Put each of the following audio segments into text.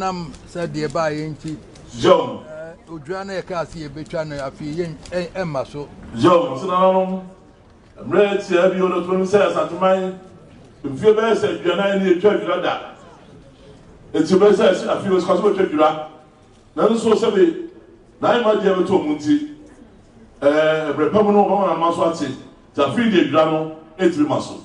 nam sɛ deɛ ɛbaeɛ nti odwira no yɛkaa sɛ yɛbɛtwa no afei yɛ ɛmma so yɛwɔ so nananom mmerɛ tiaa bio no tonom sɛ asanteman mfie bɛyɛ sɛ aduanan ne ɛtwa adwira da ɛti bɛyɛ sɛ ɛsi afei wɔsika so bɛtwa adwira nanso sɛbe naayɛ ma deɛ bɛtɔ mu nti ɛberɛ pa mu no wɔbɛma nanoma so ate nti afei deɛ adwira no ɛtumi ma so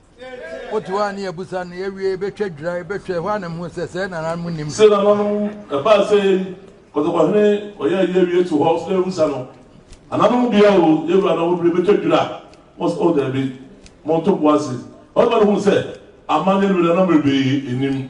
Wote hɔ a ne yɛabisa no, yɛawie, yɛbɛtwa dwira, yɛbɛhwɛ, ɛhɔ ara na mehuu sɛ sɛɛ na nananom nnim. Se nananom ɛbaa sɛ yei, kɔtɔkɔhene ɔyɛ ayi awie to hɔ, sɛ yɛabisa no, Nananom bia o, yɛwura na wɔduru, yɛbɛtwa dwira? Wɔse, Oh, daabi, monto bo ase. Ɔbarima no huu sɛ amanneɛ no bɛda na mmerɛ pii nnim.